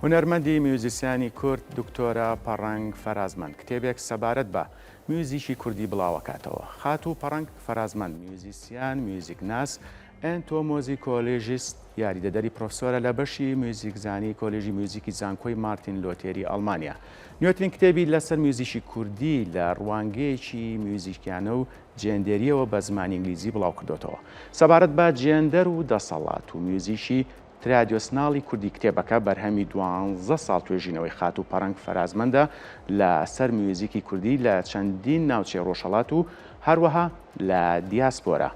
هونەرمەندی میوزیسیانی کورد دکتۆرە پەڕەنگ فەرازمەند کتێبێک سەبارەت بە میوزیکی کوردی بڵاوەکاتەوە. خاتوو پەڕەنگ فەرازمەند میوزیسیان، میوزیکناس، ئێنتۆمۆزیکۆلژیست، یاریدەدەری پرۆفسۆرە لە بەشی میوزیکزانی کۆلێژی میوزیکی زانکۆی مارتین لۆتێری ئەڵمانیا. نوێترین کتێبی لەسەر میوزیکی کوردی لە ڕوانگەیەکی میوزیکیانە و جێندێرییەوە بە زمانی ئینگلیزی بڵاوکردۆتەوە. سەبارەت بە جێندەر و دەسەڵات و میوزیکی ترادیۆسناڵی کوردی کتێبەکە بەرهەمی دوانزە ساڵ توێژینەوەی خاتوو پەڕەنگ فەرازمەندە لە سەر میوزیکی کوردی لە چەندین ناوچەی ڕۆژهەڵات و هەروەها لە دیاسپۆرا.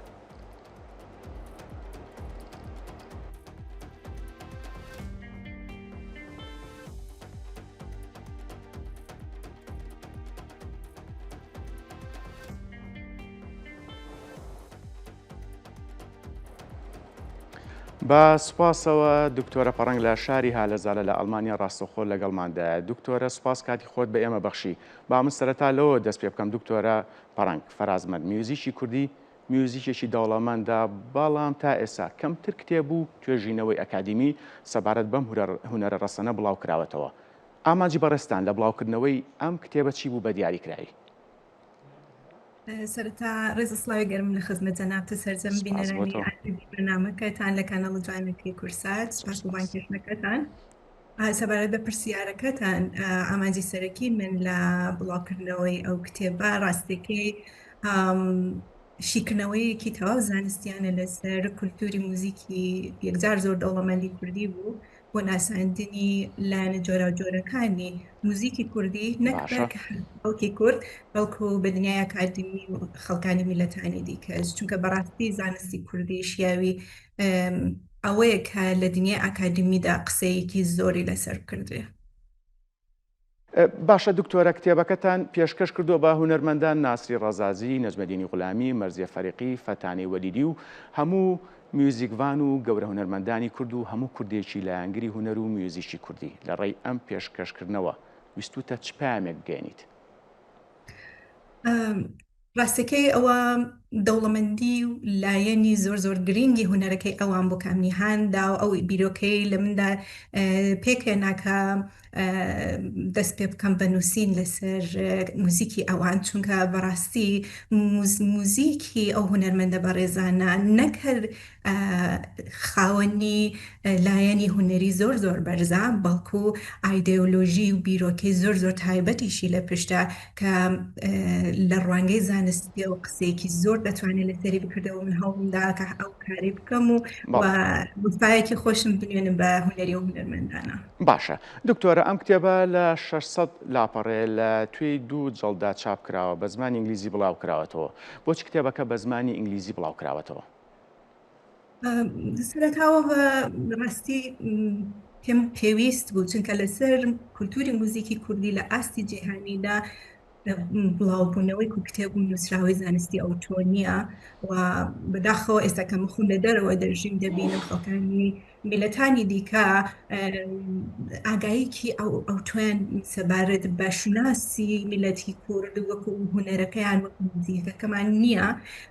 بە سوپاسەوە دکتۆرە پەڕەنگ لە شاری هالەزالە لە ئەڵمانیا ڕاستەخۆ لەگەڵماندایە دکتۆرە سوپاس کاتی خۆت بە ئێمە بەخشی با من سەرەتا لەوە دەست پێ بکەم دکتۆرە پەڕەنگ فەرازمەند میوزیکی کوردی میوزیکێکی دەوڵەمەندە بەڵام تا ئێستا کەمتر کتێب و توێژینەوەی ئەکادیمی سەبارەت بەم هونەرە ڕەسەنە بڵاو کراوەتەوە ئامانجی بەڕێستان لە بڵاوکردنەوەی ئەم کتێبە چی بوو بە دیاریکراوی سەرەتا ڕێز سڵاوی گەرم لە خزمەت جەنابتە سەرجەم بینەرانی بەنامەکەتان لە کانەڵ جوانەکەی کورسات سپاس بۆ بانکێشنەکەتان سەبارەت بە پرسیارەکەتان ئامانجی سەرەکی من لە بڵاوکردنەوەی ئەو کتێبە ڕاستەکەی شیکردنەوەیەکی تەواو زانستیانە لەسەر کولتوری موزیکی یەکجار زۆر دەوڵەمەندی کوردی بوو بۆ ناساندنی لایەنە جۆراوجۆرەکانی موزیکی کوردی نەک بەرکە خەڵکی کورد بەڵکو بە دنیای ئەکادمی و خەڵکانی میلەتانی دیکەش چونکە بەڕاستی زانستی کوردی شیاوی ئەوەیە کە لە دنیای ئاکادمیدا قسەیەکی زۆری لەسەر کردێ باشە دکتۆرە کتێبەکەتان پێشکەش کردووە بە هونەرمەندان ناسری ڕەزازی، نەجمەدینی غولامی، مەرزیە فەریقی، فەتانەی وەلیدی و هەموو میوزیکڤان و گەورە هونەرمەندانی کورد و هەموو کوردێکی لایەنگری هونەر و میوزیکی کوردی، لە ڕێی ئەم پێشکەشکردنەوە ویستووتە چ پەیامێک بگەیەنیت؟ ڕاستەکەی ئەوە دەوڵەمەندی و لایەنی زۆر زۆر گرینگی هونەرەکەی ئەوان بۆ کامنی هاندا و ئەو بیرۆکەی لە مندا پێکێناکە دەست پێ بکەم بە نووسین لەسەر موزیکی ئەوان چونکە بەڕاستی موزیکی ئەو هونەرمەندە بەڕێزانە نەکرد خاوەنی لایەنی هونەری زۆر زۆر بەرزە بەڵکو ئایدەیۆلۆژی و بیرۆکەی زۆر زۆر تایبەتیشی لە پشتە کە لە ڕوانگەی زانستیەوە قسەیەکی زۆر دەتوانێت لەسەری بکردەوە من هەوڵم دا کە ئەو کارەی بکەم و و وفایەکی خۆشم بنوێنم بە هونەری و هونەرمەندانە باشە دکتۆرە ئەم کتێبە لە 600 لاپەڕێ لە توێی دوو جەڵدا چاپ کراوە بە زمانی ئینگلیزی بڵاو کراوەتەوە بۆچ کتێبەکە بە زمانی ئینگلیزی بڵاو کراوەتەوە؟ سەرەتاوە بە ڕاستی پێم پێویست بوو چونکە لەسەر کولتوری موزیکی کوردی لە ئاستی جیهانیدا بڵاوبوونەوەی و کتێب و نووسراوی زانستی ئەو تۆنیە و بەداخەوە ئێستا کە مخون لە دەرەوە دەژیم دەبینم خەڵکانی میللەتانی دیکە ئاگاییەکی ئەوتۆیان سەبارەت بە شوناسی میللەتی کورد وەکو هونەرەکەیان وەکو موزیکەکەمان نییە،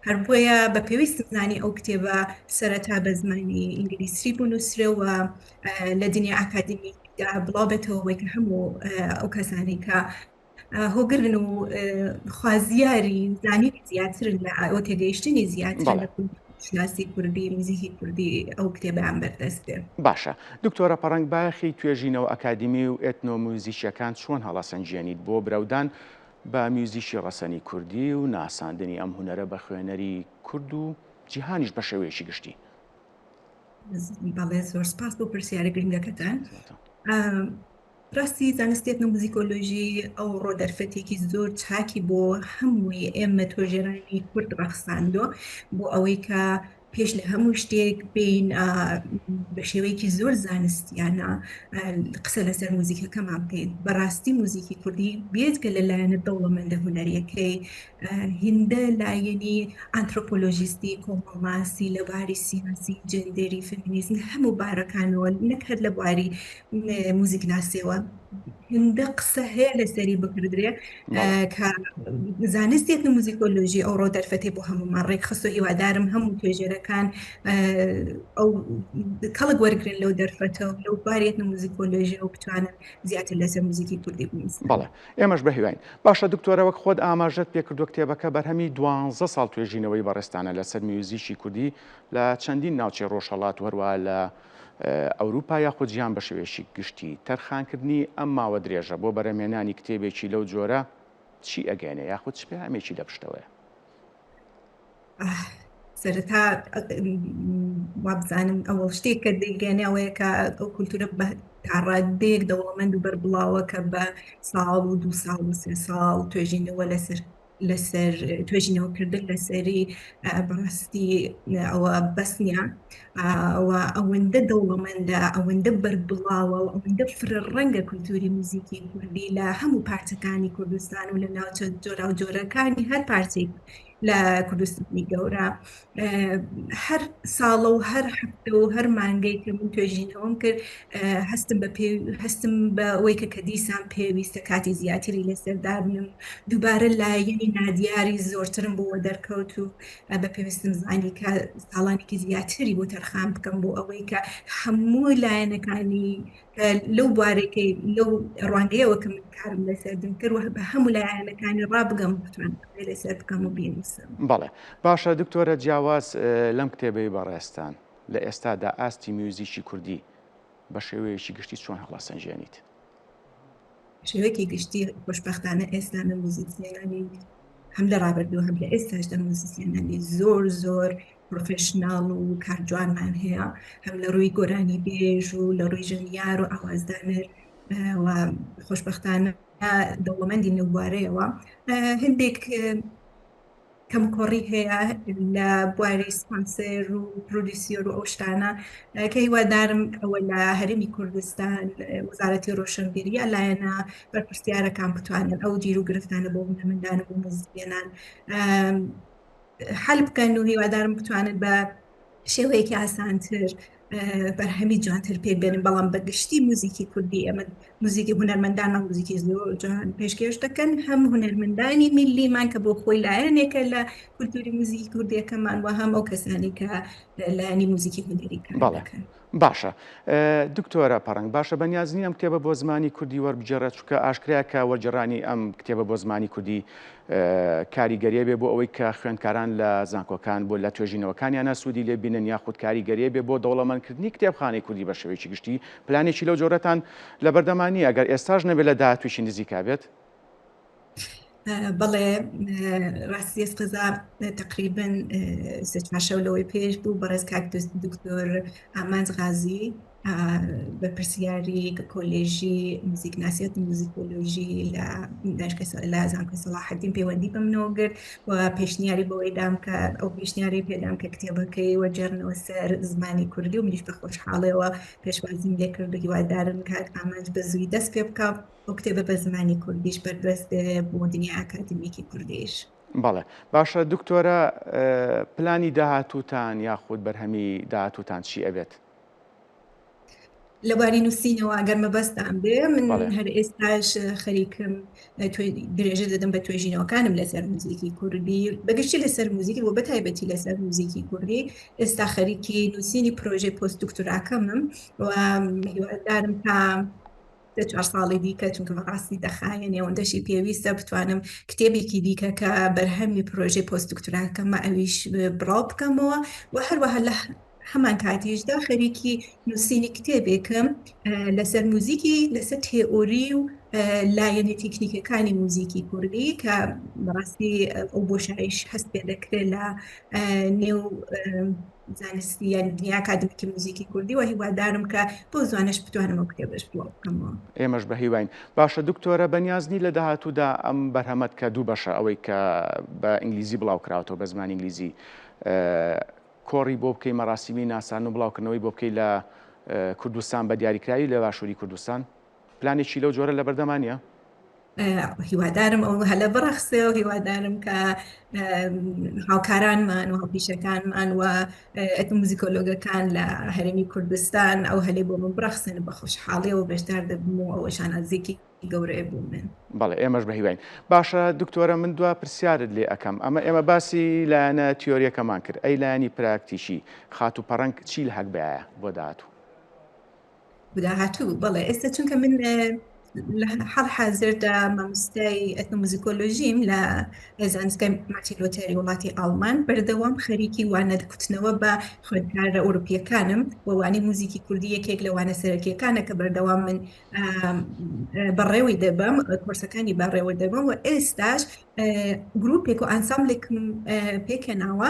هەر بۆیە بە پێویستم زانی ئەو کتێبە سەرەتا بە زمانی ئینگلیسی بنووسرێ و لە دنیای ئاکادیمیکدا بڵاو بێتەوە بۆی کە هەموو ئەو کەسانەی کە هۆگرن و خوازیاری زانینی زیاترن لە ئاۆ تێگەیشتنی زیاتر لە شناسی کوردی نزیکی کوردی ئەو کتێبیان بەردەست بێ باشە دکتۆرە پەڕەنگ باخی توێژینەوە ئەکادیمی و ئێتنۆمیوزیچیەکان چۆن هەڵەسەنجێنیت بۆ براودان بە میوزیکی ڕەسەنی کوردی و ناساندنی ئەم هوەرە بە خوێنەری کورد و جیهانیش بە شێوەیەکی گشتی بەڵێ زۆر سپاس بۆ پرسیارە گرنگەکەتان ڕاستی زانستی ئێتنۆموزیکۆلۆژی ئەوڕۆ دەرفەتێکی زۆر چاکی بۆ هەمووی ئێمە تۆژێرانی کورد ڕەخساندۆ بۆ ئەوەی کە پێش لە هەموو شتێک بین بە شێوەیەکی زۆر زانستیانە قسە لەسەر موزیکەکەمان بکەین بەڕاستی موزیکی کوردی بێت کە لەلایەنە دەوڵەمەندە هونەریەکەی هیندە لایەنی ئانترۆپۆلۆژیستی، کۆمەڵناسی، لە باری سیاسی، جێندەری، فێمینیزم لە هەموو بارەکانەوە نەک هەر لە بواری موزیکناسیەوە هیندە قسە هەیە لەسەری بکردرێ کە زانست ئێتنۆموزیکۆلۆژی ئەوڕۆ دەرفەتی بۆ هەموومان ڕێکخست و هیوادارم هەموو توێژەرەکان ئەو کەڵک وەرگن لەو دەرفەتەوە لەو باری ئێتنۆموزیکۆلۆژی و بتوانن زیاتر لەسەر موزیکی کوردی بنووسن. بەڵێ ئێمەش بەهیواین. باشە دکتۆرە وەک خۆت ئاماژەت پێکردوە کتێبەکە بەرهەمی دوانزە ساڵ توێژینەوەی بەڕێزتانە لەسەر میوزیکی کوردی لە چەندین ناوچەی ڕۆژهەڵات و هەروەها لە ئەوروپا یاخود جیهان بەشێوەیەکی گشتی، تەرخانکردنی ئەم ماوە درێژە بۆ بەرەمێنانی کتێبێکی لەو جۆرە چی ئەگەیەنێ یاخود چ پەیامێکی لەپشتەوەیە؟ سەرەتا وابزانم ئەوە شتێک کە دەیگەێنێ ئەوەیە کە ئەو کولتورە بە تاڕادێک دەوڵەمەند و بەربڵاوە کە بە ساڵ و دو ساڵ و سێ ساڵ توێژینەوە لەسەر لەسەر توێژینەوەکردن لەسەری بەڕاستی ئەوە بەسنیا ئەوە ئەوەندە دەوڵەمەندە ئەوەندە بەربڵاوە و ئەوەندە فرە ڕەنگە کولتوری موزیکی کوردی لە هەموو پارچەکانی کوردستان و لە ناوچە جۆرا و جۆرەکانی هەر پارچەی لە کوردستانی گەورە هەر ساڵە و هەر هەفتە و هەر مانگەی کە من توێژینەوەم کرد هەستم بە پێ هەستم بە ئەوەی کە کە دیسان پێویستە کاتی زیاتری لەسەر دابنم دووبارە لایەنی نادیاری زۆرترم بۆ دەرکەوت و بە پێویستم زانی کە ساڵانێکی زیاتری بۆ تەرخان بکەم بۆ ئەوەی کە هەموو لایەنەکانی لەو بوارەکەی لەو ڕوانگەیەوە کە من کارم لەسەر دەکرد و بە هەموو لایەنەکانی ڕابگەم بتوان لەسەر بکەم و بینووسم بەڵێ باشە دکتۆرە جیاواز لەم کتێبەی بەڕێزتان لە ئێستادا ئاستی میوزیکی کوردی بە شێوەیەکی گشتی چۆن هەڵەسەنجێنیت؟ شێوەیەکی گشتی خۆشبەختانە ئێستا نە موزیسیەنانی هەم لە ڕابردوو هەم لە ئێستاش دە موزیسیەنانی زۆر زۆر پرۆفشنناڵ و کارجوانمان هەیە هەم لە ڕووی گۆرانی بێژ و لە ڕووی ژەنیار و ئاوازدانەر خۆشببختانە دەوڵەمەندی نەوارەیەوە هەندێک کەموکۆڕی هەیە لە بواری سپانسەر و پرۆدیسیۆر و ئەو شتانە کە هیوادارم ئەوە لە هەرمی کوردستان وەزارەتی ڕۆشنبیری یا لایەنە بەرپرسیارەکان بتوانن ئەو جیر و گرفتانە بۆ هونەرمەندان و بۆ موزیکێنان حل بکەن و هیوادارم بتوانن بە شێوەیەکی ئاسانتر بەرهەمی جوانتر پێ بێنن بەڵام بەگشتی موزیکی کوردی ئەمە موزیکی هوەرمەندان موزیکی زۆر جوان پێشکێش دەکەن هەم هوەرمەندانی میلیمان کە بۆ خۆی لایەنێکە لە کولتوری موزیکی کوردیەکەمان و هەم ئەو کەسانی کە لایانی موزیکی هوەریکان باشە دکتۆرە پەڕەنگ باشە بەنیاز نیم ئەم کتێبە بۆ زمانی کوردی وەربگێڕە چونکە ئاشکرایە کە وەرگێڕانی ئەم کتێبە بۆ زمانی کوردی کاریگەریە بێ بۆ ئەوەی کە خوێندکاران لە زانکۆکان بۆ لە توێژینەوەکانیانە سوودی لێ بینن یاخود کاریگەریە بێ بۆ دەوڵەمەندکردنی کتێبخانەی کوردی بە شێوەیەکی گشتی پلانێکی لەو جۆرەتان لە بەردەمانی ئەگەر ئێستاش نەبێت لە داهاتوویی نزیکا بێت بەڵێ ڕاستی قەزا تقریبن سێ چوار شەو لەوەی پێش بوو بەڕێز کاک دکتۆر ئامانج غازی بەپرسیاری کۆلێژی موزیکناسیەت موزیکۆلۆژی لە داشکە لە زانکۆی سەڵاحەدین پەیوەندی بەمنەوە گرت و پێشنیاری بەوەی دام کە ئەو پێشنیاری پێدام کە کتێبەکەی وەجێڕنەوە سەر زمانی کوردی و منیش بە خۆشحاڵەوە پێشوازیم لێکرد و هیوادارم کاک ئامانج بە زووی دەست پێ بکە ئەو کتێبە بە زمانی کوردیش بەردەست بێ بۆ دنیای ئاکادمیکی کوردیش. بەڵێ باشە دکتۆرە پلانی داهاتووتان یاخود بەرهەمی داهاتووتان چی ئەبێت؟ لەباری نووسینەوە گەر مەبەستان بێ من بەڵێ. هەر ئێستاش اه، خەریکم اه، توێ- درێژە دەدەم بە توێژینەوەکانم لەسەر موزیکی کوردی بەگشتی لەسەر موزیکی و بەتایبەتی لەسەر موزیکی کوردی ئێستا خەریکی نووسینی پرۆژەی پۆست دکتوراکەمم و هیوادارم تا سێ چوار ساڵی دیکە چونکە بەڕاستی دەخایەنێ ئەوەندەشی پێویستە بتوانم کتێبێکی دیکە کە بەرهەمی پرۆژەی پۆست دکتراکەمە ئەویش بڵاو بکەمەوە و هەروەها لە هەمان کاتیشدا خەریکی نووسینی کتێبێکم لەسەر موزیکی لەسەر تێئۆری و لایەنی تەکنیکەکانی موزیکی کوردی کە بەڕاستی ئەو بۆشایش هەست پێ دەکرێت لە نێو زانستی یان دنیای ئاکادمیکی موزیکی کوردی و هیوادارم کە بەو زوانەش بتوانم ئەو کتێبەش بڵاو بکەمەوە. ئێمەش بە هیواین. باشە دکتۆرە بەنیاز نی لە داهاتوودا ئەم بەرهەمەت کە دوو بەشە ئەوەی کە بە ئینگلیزی بڵاو کراوەتەوە بە زمانی ئینگلیزی کۆڕی بۆ بکەی مەراسیمی ناسان و بڵاوکردنەوەی بۆ بکەی لە کوردستان بە دیاریکراوی لە باشووری کوردستان؟ پلانێکی لەو جۆرە لەبەردەما نییە؟ هیوادارم ئەو هەلە بڕەخسێ و هیوادارم کە هاوکارانمان و هاوپیشەکانمان و ئەتموزیکۆلۆگەکان لە هەرێمی کوردستان ئەو هەلێ بۆ من بڕەخسێن بە خۆشحاڵیەوە بەشدار دەبم و ئەوە شانازیەکی گەورەیە بۆ من بەڵێ ئێمەش بە هیواین باشە دکتۆرە من دوا پرسیارت لێ ئەەکەم ئەمە ئێمە باسی لایەنە تیۆریەکەمان کرد ئەی لایەنی پراکتیکی خات و پەڕەنگ چی لە هەک بایە بۆ داهاتوو بدا هاتوو بەڵێ ئێستا چونکە من لە حەڵ حازردا مامستای ئەتنۆموزیکۆلۆژیم لە زانستگای ماتی لۆتەری وڵاتی ئاڵمان بەردەوام خەریکی وانە کوتنەوە بە خوێندکارە ئەوروپیەکانم ووانی موزیکی کوردی یەکێک لە وانە سەرەکیەکانە کە بەردەوام من بەڕێوەی دەبم کۆرسەکانی بەڕێوە دەبم و ئێستاش گرروپێک و ئاساملێکم پێکەناوە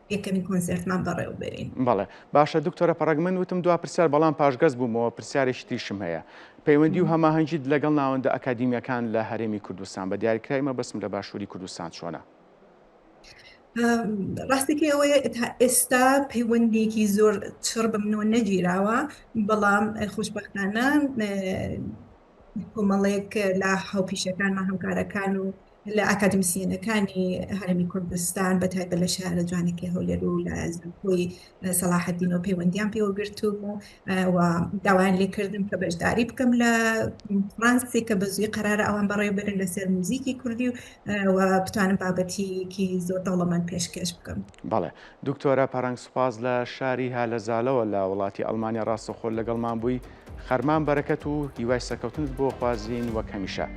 یەکەمین کۆنسێرتمان بەڕێوە بەرین. بەڵێ باشە دکتۆرە پەڕەک من وتم دوا پرسیار بەڵام پاشگەز بوومەوە پرسیارێکی تریشم هەیە پەیوەندی و هەماهەنگیت لەگەڵ ناوەندە ئەکادیمیەکان لە هەرێمی کوردستان بە دیاریکرای مەبەستم لە باشووری کوردستان چۆنە؟ ڕاستەکەی ئەوەیە تا ئێستا پەیوەندێکی زۆر چڕ بە منەوە نەگیراوە بەڵام خۆشببختانە کۆمەڵێک لە هاوپیشەکانمان هەمکارەکان و لە ئاکادمیسیەنەکانی هەرمی کوردستان بە تایبەت لە شارە جوانەکەی هەولێر و لە زانکۆی سەڵاحەدین و پەیوەندیان پێوە گرتوم و و داوایان لێکردم کە بەشداری بکەم لە فرانسی کە بە زوی قرارە ئەوان بەڕێ برن لەسەر موزیکی کوردی و بتوانم بابەتیکی زۆر دەوڵەمەند پێشکەش بکەم بەڵێ دکتۆرە پەرەنگ سوپاس لە شاری هالەزالەوە لە وڵاتی ئەڵمانیا ڕاستەخۆ لەگەڵمان بووی خەرمان بەرەکەت و هیوای سەرکەوتنت بۆ خوازین وەک هەمیشە.